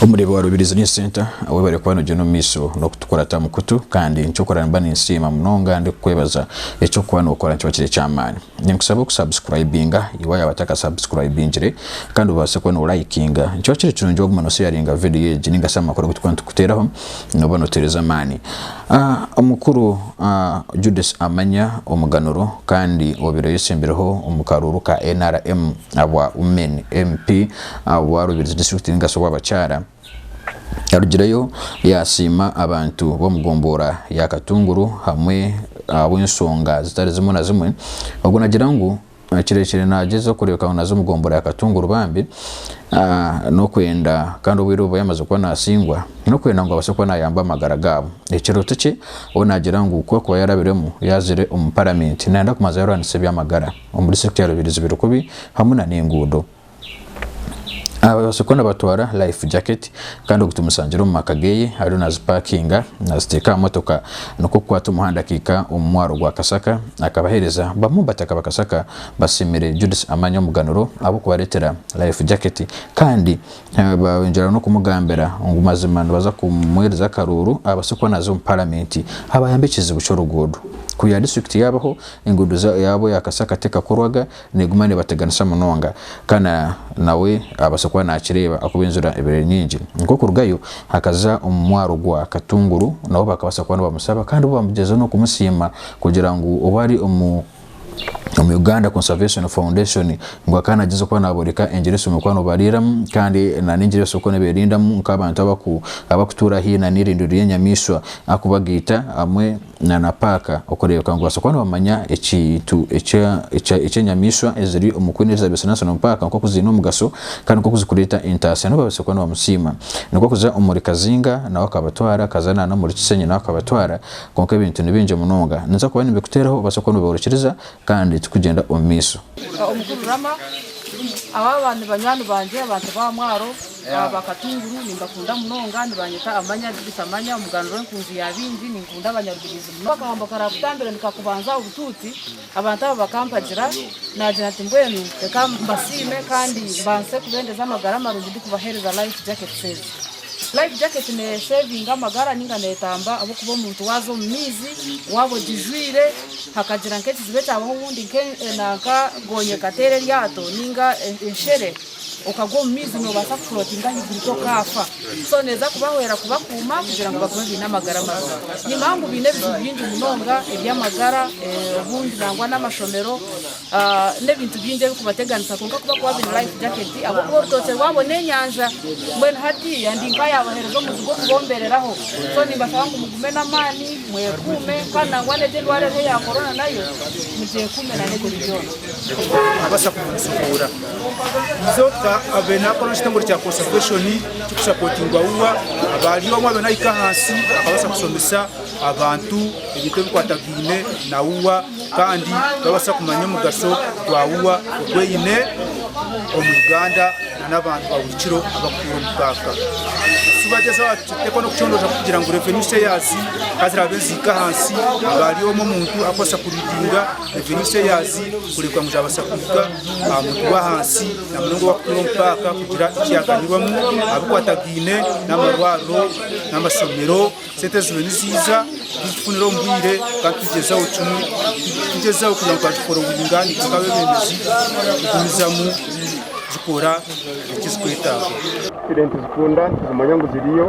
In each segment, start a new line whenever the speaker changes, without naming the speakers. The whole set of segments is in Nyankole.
Omureeba wa Rubirizi Learning Centre awu ebari kuba negyenda omu maisho n'okutukurata mu kutu kandi nikyokurora nimba ninsiima munonga ndikukwebaza, ekyokuba nokora nikiba kiri ekyamaani. Ninkusaba oku subscribinga iwe ayaba ataka subscribingire kandi obaase kuba no likinga. Nikiba kiri kirungi waguma no sharinga video egi ninga shi amakuru agu tukuba nitukuteraho noba notereza amaani. Omukuru Judith Amanya omuganuro kandi obire oyesembirweho omu karuuru ka nrm abwa Women MP. Ahabw'obu aruubirize disiturikiti y'omugasyo gw'abakyara, yarugireyo yaasiima abantu b'omu gomboora ya Katunguru hamwe ahabw'enshonga zitari zimwe na zimwe, obwo naagira ngu kirekire naagyezaho kureebeka ngu naaza omu gomboora ya Katunguru bambi n'okwenda kandi obwire obu yamaze kuba naasingwa n'okwenda ngu abaase kuba naayamba amagara gaabo. Ekirooto kye ou naagira ngu ku akuba yarabiremu yaazire omu paramenti naayenda kubanza yaarwanisa eby'amagara omu disiturikiti ya Rubirizi biri kubi hamwe n'enguudo. Ababaasa kuba nibatwara life jacket kandi ogu tumusangiire omu maka geye ariyo nazipakinga naziteeka aha motoka nikwo kukwata omuhanda akaika omu mwaaro gwa Kasaka akabahereza bamwe omu bataka ba Kasaka basiimire Judith Amanya omuganuro ahabw'okubaretera life jacket kandi baayongyera n'okumugambira ngu mazima nibaza kumuhereza akaruuru abaase kuba naza omu paramenti abayambe ekizibu ky'oruguudo kuyaba district yaabaho enguudo yaabo eya Kasaka tekakorwaga. Neeguma neebateganisa munonga, kandi nawe abaasa kuba naakireeba ahakuba enjura ebaire eri nyingi. Nk'okurugayo, akaza omu mwaaro gwa Katunguru, nabo bakabaasa kuba nibamusaba kandi bo baagyezaho n'okumusiima kugira ngu obu ari omu Uganda Conservation Foundation ngu akaba naagyezaho kuba naabooreka engira ezisoboire kuba nibariiramu kandi n'engira ezibasoboire kuba nibeerindamu nk'abantu abakutuura haihi n'eirindiro ry'enyamaishwa ahakuba gaita hamwe na na paaka okureebeka ngu babaasa kuba nibamanya ekintu eki enyamaishwa eziri omu Queen Elizabeth National Park nk'oku ziine omugasho kandi nk'oku zirikureeta entaasya nabo babaase kuba nibamusiima. Nikwo kuza omuri Kazinga nawe akabatwara, akaza na n'omuri Kisenyi nawe akabatwara kwonka ebintu ni bingi munonga. Ninza kuba nimbikuteeraho obaase kuba noobyorokyereza kandi turikugyenda omu maisho. Omukuru
Rama, Aba ni banywani bangye, abantu ba Mwaro. Aba Katunguru nimbakunda munonga, nibanyeta amanya Judith Amanya, omuganura w'enkunzi ya baingi. Ninkunda abanyarubirizi munonga. Akahombo karaakutambira nikakubanza obutuuti, abantu abo bakampagira, naagira nti, Mbwenu reka mbasiime kandi mbaase kubeendeza amagara marungi ndikubaheereza Life Jacket Saving. Life Jacket neeseevinga amagara nainga neetamba ahabw'okuba omuntu waaza omu maizi, waaba ogijwaire, hakagira nk'ekizibu ekyabaho obundi nanka gonya ekateera eryato nainga enshere, Okagwa omu maizi nobaasa ku floatinga ahaiguru tokaafa. So neeza kubahwera kubakuuma kugira ngu bagume baine amagara marungi. Ni manya ngu baine ebizibu bingi munonga eby'amagara, obundi nangwa n'amashomero, n'ebintu bingi ebikubateganisa kwonka ku bakuba baine life jacket ahabw'okuba orutookye rwabo n'enyanja. Mbwenu hatiiya ndi nkayabahereza omuzigu okubombereraho. So nimbashaba ngu mugume n'amaani, mwekuume kandi nangwa n'egi endwara eriho eya Corona nayo mugyekuume nana ebindi byona. Naabaasa
kumujuhuura. Nzoka abaire naakora omu kitongore kya Conservation kirikusapotingwa UWA, abari omwe abaire naahika ahansi akabaasa kushomesa abantu ebintu ebikwatagaine na UWA kandi babaasa kumanya omugasho gwa UWA ogu eine omu Uganda nana abantu ba buri kiro abarikutuura omu kaaka. Shi bagyezeho kuteekaho n'okucondooza kugira ngu revenue shares ka ziraabe nizihika ahansi abari omwe omuntu arikubaasa kuriidinga revenue shares kureeba ngu zaabaasa kuhika. aha muntu gw'ahansi na munonga ow'akutuura omu paaka kugira eki yaaganyirwamu abikwatagaine n'amarwariro n'amashomero. Sente ziriyo niziija nituzifunira omu bwire kandi tugyezaho kimwe tugyezaho kugira ngu twaziforowinga nitwe nk'abeebembezi kugumizamu zikora eki zirikwetaaga. Sente
nituzikunda nituzimanya ngu ziriyo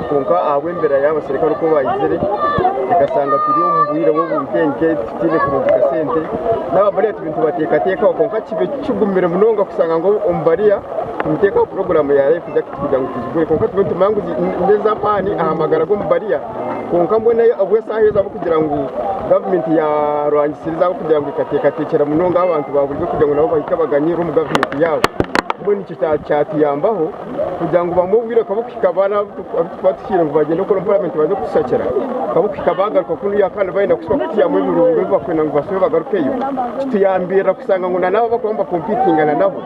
kwonka ahabw'embeera y'abaserikare oku baizire ekashanga turi omu bwire bw'obunkenke tutaine kurungika sente n'aba bariya turi nitubateekateekaho kwonka kibe kigumire munonga kushanga ngu omu bariya nituteekaho puroguraamu ya life jacket kugira ngu tuzigure kwonka tube nitumanya ngu n'ez'amaani aha magara g'omu bariya kwonka mbwenu ahabw'eshaaha ezi ahabw'okugira ngu gavumenti yaarwangisire ezi ahabw'okugira ngu ekateekateekyera munonga abantu baaburizyo kugira ngu nabo bahike baganyirwe omu gavumenti yaabo mbwenu nikyo kyatuyambaho kugira ngu bamwe obwire bukaba bukuhika baana abu turikuba tuhikiire ngu bagyende kukora omu paramenti baze kutushakira bukaba bukuhika baagaruka ku nuya kandi baayenda kuhitsya kutwihamu ebirungo ebi barikwenda ngu bashube bagarukeyo. Kituyambirira kushanga ngu nanaabo abu barikuba nibakompiitingana nabo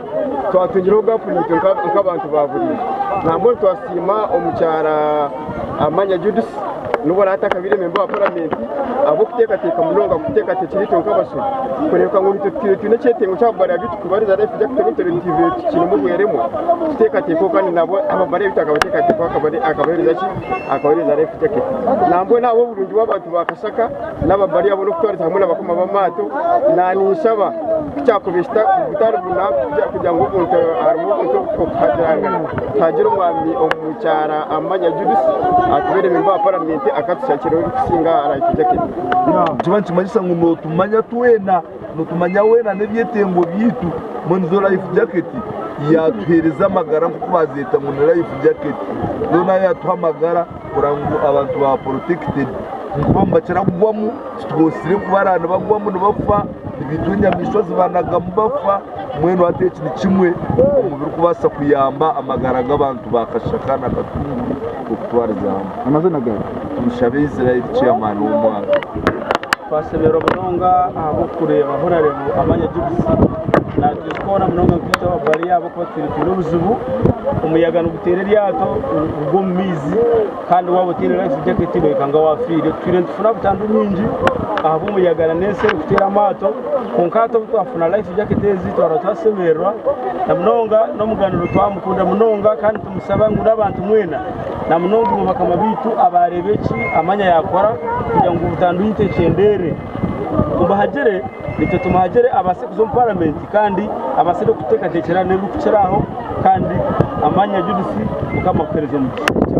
twatungireho gaapu naitwe nk'abantu baaburiijo. Nambwenu twasiima omukyara. Amanya Judith nubwo araba atakabaire memba wa Paramenti ahabw'okuteekateeka munonga aha kuteekateekyera itwe nk'abashobi. Kureebeka ngu naitwe tutaire twine ekyetengo ky'ababara ebi turikubariza reero twija kuteeba ngu ebintu bibaire bikikiinemu obweremwa kuteekateekwaho kandi nabwo ababara ebi twakabateekateekaho akabaheereza ki? Akabaheereza Life Jacket. Nambwenu ahabw'oburungi bw'abantu ba Kashaka, naba bari abo n'okutwariza hamwe n'abakoma b'amaato, naaniinshaba ku kyakubihisa butari buna kugira ngu omuntu harimu omuntu okuhagirangana tuhagira omwami omu kyara Amanya Judith atubeere memba wa paramenti akatushakireho ebikusinga aha life jacket. Nikiba nikimanyisa
ngu nootumanya twena, nootumanya weena n'ebyetengo byaitu mbwenu zo life jacket yaatuheereza amagara nk'oku baazeeta ngu ni life jacket, zoona yaatuha amagara. Kurora ngu abantu ba protected ahakuba nibakira kugwamu titubatsire kubaraba nibagwamu nibafa ebintu enyamaishwa zibanagamu bafa mbwenu hati eki nikimwe omubirikubaasa kuyamba amagara g'abantu ba kashaka na katunguru okutwariza hamwe amazina gawe
tumushabe israel
chairman w'omwaro twasemerwa
munonga ahabw'okureeba ahu orareeba amanya gy'obusi natwijuka hoona munonga nkitwe ababariya Turi buzibu, omuyaga niguteera eryato nirigwa omu maizi kandi waaba otaine life jacket noikanga waafiire. Twiriire nitufuna butandu nyingi ahabw'omuyaga nana ensi erikuteera amaato kwonka hati obu twafuna life jacket ezi twaaba twasemererwa na munonga. N'omuganuro twamukunda munonga kandi nitumusaba ngu n'abantu mwena na munonga inywe bakama baitu abaareeba eki amanya yaakora kugira ngu butandu yaitu ekyendeere. Tumuhagire nikyo tumuhagire abaase kuza omu paramenti kandi abaase n'okuteekateekyera n'ebirikukira aho kandi amaanya Judith mukama akuheereze
omugisha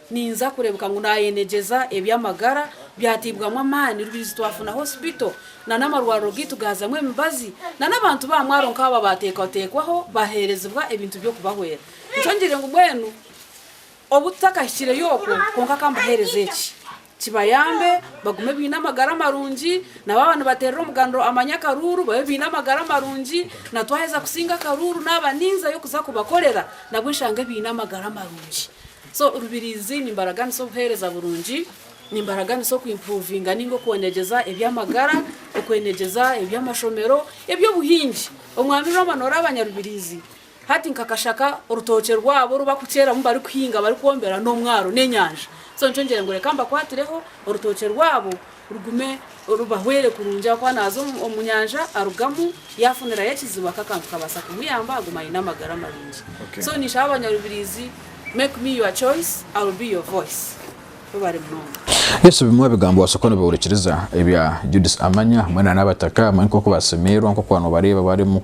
Ninza kurebuka ngu nayenegyeza ebyamagara byatibwamu amaani rubizi twafuna hospital na namarwariro gaitu gazamu emibazi na nabantu ba mwaro nkaabo abatekwatekwaho baherezibwa ebintu byokubahwera nikyo ngire ngu mbwenu obututakahikireyo okwo kwonka kambahereze eki Kibayambe bagume baine amagara marungi, na baaba nibateerera omuganuro Amanya Akaruuru babe baine amagara marungi, na twaheza kusinga Akaruuru naaba ninzayo kuza kubakorera nabwo nshange baine amagara marungi. So Rubiriizi nimbaraganisa obuheereza burungi, nimbaraganisa oku impuruvinga ninga okwonegyeza eby'amagara, okwenegyeza eby'amashomero, eby'obuhingi. Omwami Rwama nooraba Nyarubiriizi. Hati nka kashaka orutookye rwabo oru bakukyeramu barikuhinga barikwombera n'omwaro n'enyanja. So nikyo ngira ngu reka mbakwatireho orutookye rwabo rugume rubahwere kurungi ahakuba naaza omu nyanja arugamu yaafunirayo ekizibu aka kantu kabaasa kumuyamba aguma aine amagara marungi. So ninshaba abanyarubirizi make me your choice, I'll be your voice.
Yesu bimwe aha bigambo wabaasa kuba nibihurikiriza ebya Judith Amanya hamwe na Nabataka hamwe nk'oku basemeirwa nk'oku waaba noobareeba barimu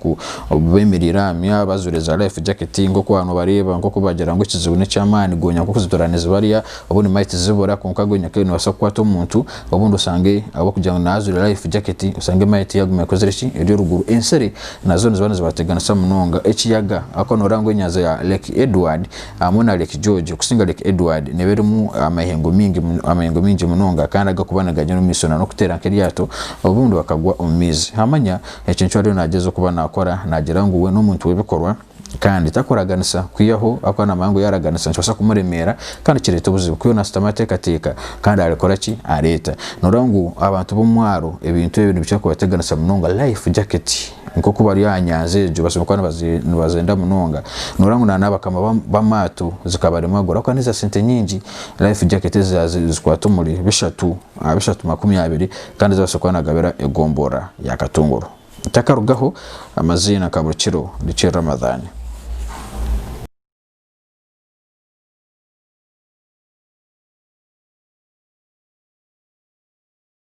beemereire aha mywa bajwaire za life jacket nk'oku waaba noobareeba nk'oku baagira ngu ekizibu n'eky'amaani goonya nk'oku zitura nizibarya obundi might zibura kwonka goonya kare nibabaasa kukwata omuntu obundi osange ahabw'okugira ngu naaba ajwaire life jacket osange might yaaguma ekozire ki eri oruguru ensiri nazo niziba nizibateganisa munonga ekiyaga ahabw'okuba nooreeba ngu enyanja ya Lake Edward hamwe na Lake George okusinga Lake Edward neeba erimu amaihengo maingi amaihengo maingi munonga kandi agakuba nigagenda omu maisho na n'okuteera nk'eryato obundi bakagwa omu maizi hamanya ekyo nikyo ariyo nagyeza okuba nakora nagyira ngu we n'omuntu w'ebikorwa kandi takuraganisa kwihaho akuba namanya ngu yaraganisa nikibaasa kumuremeera kandi kireeta obuzibu ku yoona ashutami ateekateeka kandi arikora ki areeta nooreeba ngu abantu b'omwaaro ebintu ebi nibikira kubateganisa munonga life jacket. nk'oku bari aha nyanja egyo batsibire kuba nibaze- nibazenda munonga noreeba ngu na n'abakama b'am- b'amaato zikabaremagura ahabw'okuba n'eza sente nyingi life jacket ezi ezi- ezikwata omuri bishatu aha bishatu makumi abiri kandi ezi abatsire kuba nibagabira egombora ya Katongoro ntakarugaho amaziina nka buri kiro nikyo Ramadhan.